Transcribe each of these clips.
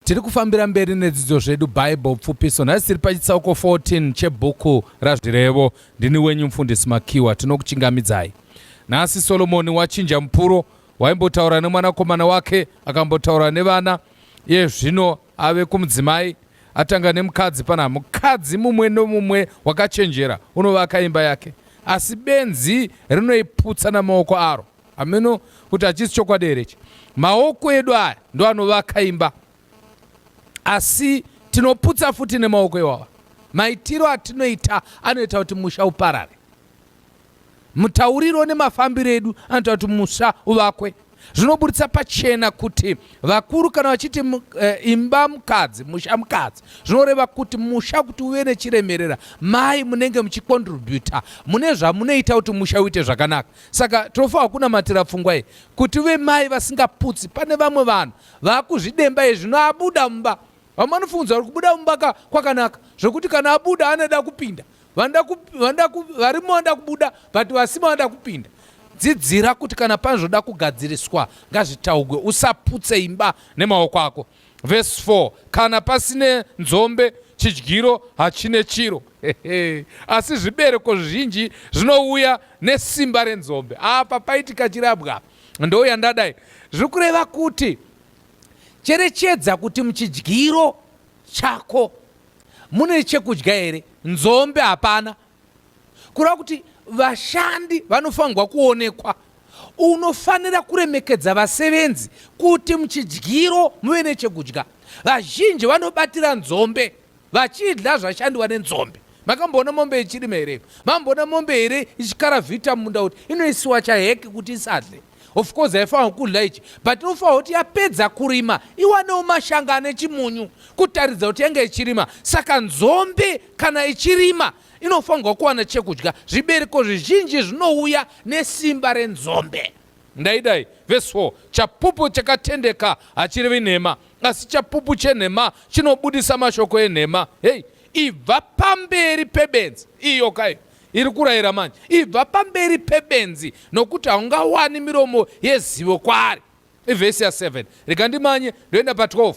Tiri kufambira mberi nedzidzo zvedu Bible pfupiso. Nhasi tiri pachitsauko 14 chebhuku raZvirevo. Ndini wenyu mfundisi Makiwa tinokuchingamidzai. Nhasi Solomoni wachinja mupuro waimbotaura nemwanakomana wake akambotaura nevana iye zvino ave kumudzimai atanga nemukadzi pana mukadzi mumwe nomumwe wakachenjera unovaka imba yake asi benzi rinoiputsa namaoko aro. Hameno kuti hachisi chokwadi here ichi. Maoko edu aya ndo anovaka imba, asi tinoputsa futi nemaoko iwawa. Maitiro atinoita anoita kuti musha uparare. Mutauriro nemafambiro edu anoita kuti musha uvakwe. Zvinoburitsa pachena kuti vakuru kana vachiti eh, imba mukadzi, musha mukadzi, zvinoreva kuti musha kuti uve nechiremerera, mai munenge muchikontributa mune zvamunoita kuti musha uite zvakanaka. Saka tinofanira kunamatira pfungwa iyi kuti vemai vasingaputsi, pane vamwe vanhu vakuzvidemba izvi zvino abuda mumba. Vamwe vanofungidzira kuti kubuda mumba kwakanaka zvekuti kana abuda anoda kupinda, varimo vanoda kubuda but vasimo vanoda kupinda. Dzidzira kuti kana pane zvoda kugadziriswa ngazvitaugwe, usaputse imba nemaoko ako. Verse 4 kana pasine nzombe chidyiro hachine chiro asi zvibereko zvizhinji zvinouya nesimba renzombe apa paitika chirabwa apa ndouya ndadai zviri kureva kuti cherechedza kuti muchidyiro chako mune chekudya here nzombe hapana kureva kuti vashandi vanofanirwa kuonekwa unofanira kuremekedza vasevenzi kuti muchidyiro muve nechekudya vazhinji vanobatira nzombe vachidya zvashandiwa nenzombe makamboona mombe ichirima here mamboona mombe here ichikaravhita mumunda kuti inoisiwa chaheke kuti isadle Of course haifanirwa kudya ichi but inofanirwa kuti yapedza kurima iwanewo mashanga ane chimunyu kutaridza kuti yange ichirima. Saka nzombe kana ichirima inofanirwa kuwana chekudya. Zvibereko zvizhinji zvinouya nesimba renzombe. Ndaidai verse 4 chapupu chakatendeka hachirevi nhema asi chapupu chenhema chinobudisa mashoko enhema. Hei, ibva pamberi pebenzi iyo kai iri kurayira manje, ibva pamberi pebenzi, nokuti haungawani miromo yezivo kwaari. Ivhesi ya 7 rega ndimanye ndoenda pa 12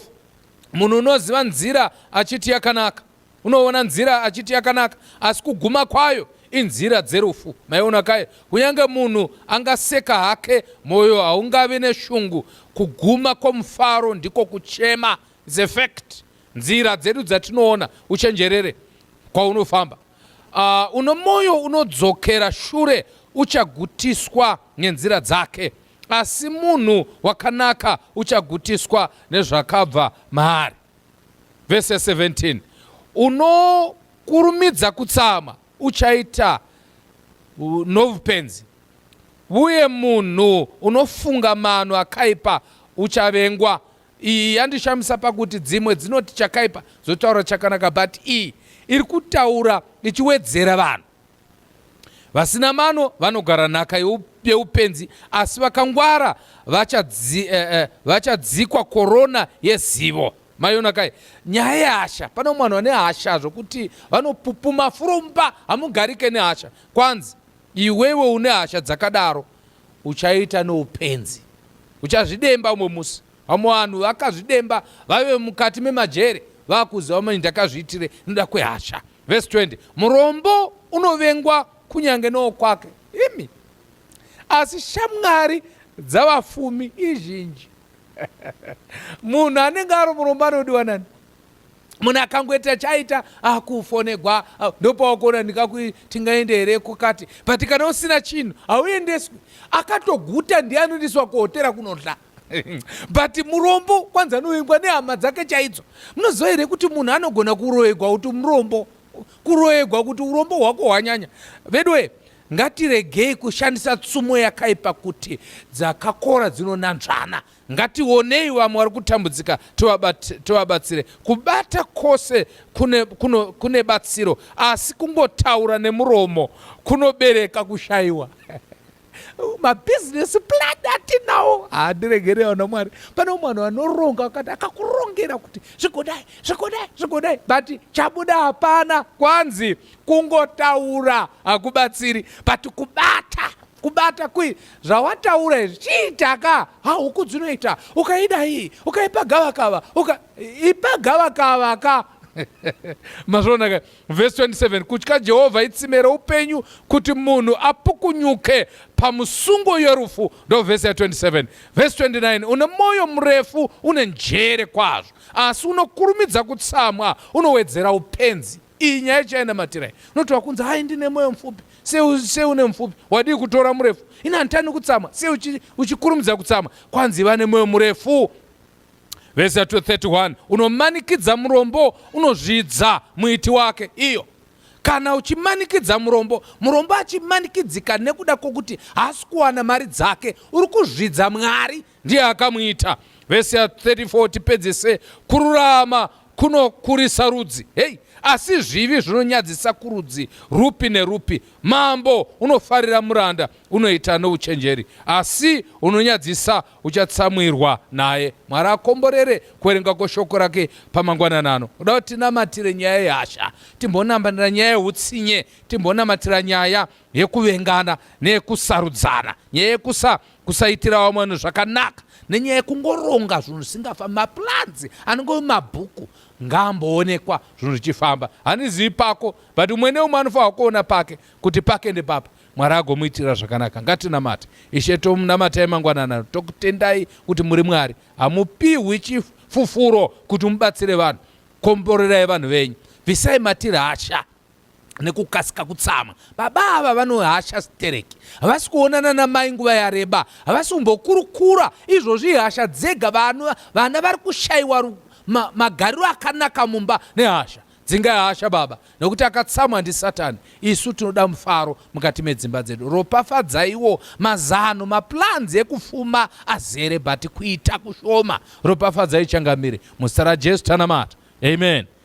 munhu unoziva nzira achiti yakanaka unoona nzira achiti yakanaka asi kuguma kwayo inzira dzerufu maiona kaye kunyange munhu angaseka hake mwoyo haungavi neshungu kuguma kwomufaro ndiko kuchema is a fact nzira dzedu dzatinoona uchenjerere kwaunofamba Uh, uno mwoyo unodzokera shure uchagutiswa nenzira dzake, asi munhu wakanaka uchagutiswa nezvakabva maari. Vese 17 unokurumidza kutsama uchaita novupenzi, uye munhu unofunga mano akaipa uchavengwa Iyi yandishamisa pakuti dzimwe dzinoti chakaipa zvotaura chakanaka but iyi iri kutaura ichiwedzera vanhu vasina mano vanogara nhaka yeupenzi asi vakangwara eh, eh, vachadzikwa korona yezivo maiona kai nyaya yehasha pane mwana vane hasha zvokuti vanopupuma furumba hamugarike nehasha kwanzi iwewe une hasha dzakadaro uchaita noupenzi uchazvidemba umwe musi vamwe vanhu vakazvidemba vave mukati memajere vakuziva mani ndakazviitire noda kwehasha vhesi 20 murombo unovengwa kunyange nowo kwake imi asi shamwari dzavafumi izhinji munhu anenge ari murombo anodiwa nani munhu akangoita chaita akufonegwa ah, ndopawakuona ndikakuti tingaende here kukati but kana usina chinhu hauendeswi akatoguta ndiye anoendeswa kuhotera kunodla but murombo kwanzi anovengwa nehama dzake chaidzo munoziva here kuti munhu anogona kuroyegwa kuti murombo kuroyegwa kuti urombo hwako hwanyanya veduwe ngatiregei kushandisa tsumo yakaipa kuti dzakakora dzinonanzvana Ngationei vamwe vari kutambudzika tovabatsire. Kubata kwose kune, kuno, kune batsiro asi kungotaura nemuromo kunobereka kushayiwa mabhizinesi plan atinawo handiregere ah, ana mwari pane umwe vanhu vanoronga vakati akakurongera kuti zvigodai zvigodai zvigodai but chabuda hapana kwanzi kungotaura hakubatsiri but kubata kubata kui zvawataura izvi chiitaka hahuku dzinoita ukaida iyi ukaipa gavakava uka ipa gavakava ka mazvonaka vhesi 27 kutya jehovha itsime roupenyu kuti munhu apukunyuke pamusungo yorufu ndo vhesi ya 27 vhesi 29 une mwoyo murefu une njere kwazvo asi unokurumidza kutsamwa unowedzera upenzi Iyi nyaya chainamatira iyi. Unoti wakunzi hai ndine moyo mupfupi. Sei une mupfupi? Wadii kutora murefu? Ini handitani kutsama. Sei uchi, uchikurumidza kutsama? Kwanzi vane moyo murefu. Vhesi ya 231 unomanikidza murombo unozvidza muiti wake. Iyo kana uchimanikidza murombo, murombo achimanikidzika nekuda kwokuti haasi kuwana mari dzake, uri kuzvidza Mwari ndiye akamuita vhesi ya 34 tipedzese kururama kunokurisa rudzi hei asi zvivi zvinonyadzisa kurudzi rupi nerupi mambo unofarira muranda unoita nouchenjeri asi unonyadzisa uchatsamwirwa naye mwari akomborere kuverenga kweshoko rake pamangwananano uda kuti tinamatire nyaya yehasha timbonamatira nyaya yeutsinye timbonamatira nyaya yekuvengana neyekusarudzana nyaya yekusa kusaitira vamwe vanhu zvakanaka nenyaya yekungoronga zvinhu zvisingafambi mapulanzi anenge mabhuku ngaamboonekwa zvinhu zvichifamba handizivi pako but umwe neumwe anofanira kuona pake kuti pake ndepapa mwari agomuitira zvakanaka ngatinamate ishe tomunamatai mangwanana tokutendai kuti muri mwari hamupihwi chifufuro kuti mubatsire vanhu komborerai vanhu venyu bvisai matiri hasha nekukasika kutsama baba ava vanohasha stereki havasi kuonana namai nguva yareba havasi kumbokurukura izvozvi hasha dzega vana vana vari kushayiwa ma, magariro akanaka mumba nehasha dzingai hasha baba nekuti akatsamwa ndisatani isu tinoda mufaro mukati medzimba dzedu ropafadzaiwo mazano maplanzi ekufuma azere but kuita kushoma ropafadzai changamire muzita rajesu tanamata amen